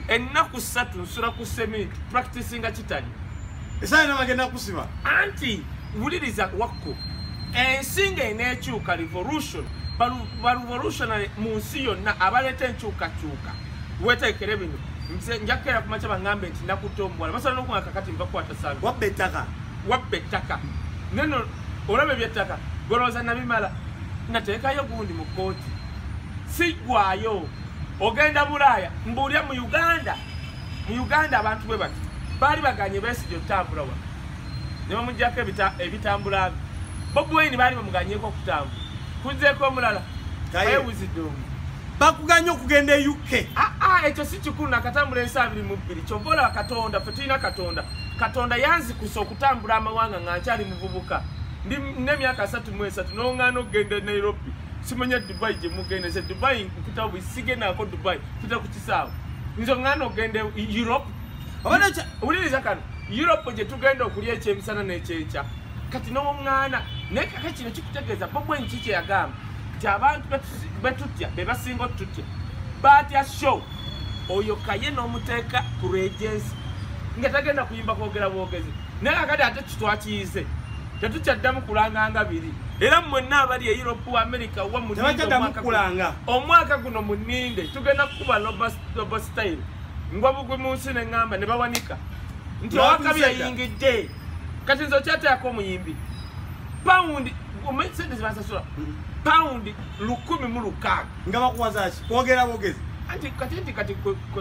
ennaku ssatu nsula ku seminti practicinga kitali esaala nabagenda kusiba anti wuliriza wakko ensi nga eneekyuka revolution barevolutionary mu nsi yonna abaleeta enkyukakyuka weteekere bino nze njakukeera ku makya baŋambe nti nakutta omuwala basobola nokuga kakati nvakukwata sala wabba ettaka wabba ettaka neno olaba ebyettaka golowooza nabimala nateekayo gundi mu kkooti sigwayo ogenda bulaaya mbuulya mu uganda mu uganda abantu bwe bati baali baganye besigye okutambula wa ne bamugyako ebitambula bye bobi wayini baali bamuganyeko okutambula kuzeeko omulala ayewuzidde omu bakuganya okugenda e uk ah, ah, ekyo si kikulu nakatambula ensi abiri mu bbiri kyova olaba katonda fe tulina katonda katonda yanzikusa okutambula amawanga nga nkyali muvubuka ndi nemyaka asatu mu esatu nongana okugenda e nairobi simanya dubai gye mugenda nze dubai mpita bwe sigendaako dubai mpita ku kisaawe nze ng'ana ogenda europe wuliriza kano europe gye tugenda okulya ekyemisana n'ekyenkya kati n'omwana naye kaka kino kikutegeeza bo bwe nki kye yagamba nti abantu betutya be basinga otutya batya show oyo kaye n'omuteeka ku regensi nga tagenda kuyimba kwogera bwogezi naye kakati ate kitwakiyize tetukyaddamu kulanga nga biri era mwenna abali e europe wa america wa mukulanga omwaka guno muninde tugenda kukuba loba style ngwa bugwi mu nsi ne ŋŋamba ne bawanika nti owakabi yayingidde kati nze okyateako omuyimbi pawundi sente zibasasula pawundi lukumi mu lukaaga nga bakuwazaki kwogera bogezi anti kati nti kati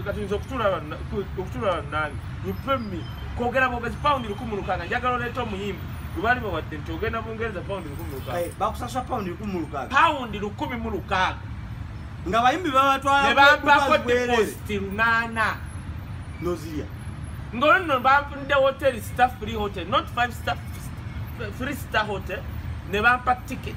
katuyinza okutula nange upemi kwogera bogezi paundi lukumi lukanga njagala oleeta omuyimbi lubali bawadde nti ogenda bungereza paundi lukumi lukanga bakusasa paundi lukumi lukanga paundi lukumi mu lukanga nga bayimbi babatwalanebampako depositi lunaana nozirya ngolino bampunide hotel star free hotel not five star three star hotel ne bampa ticket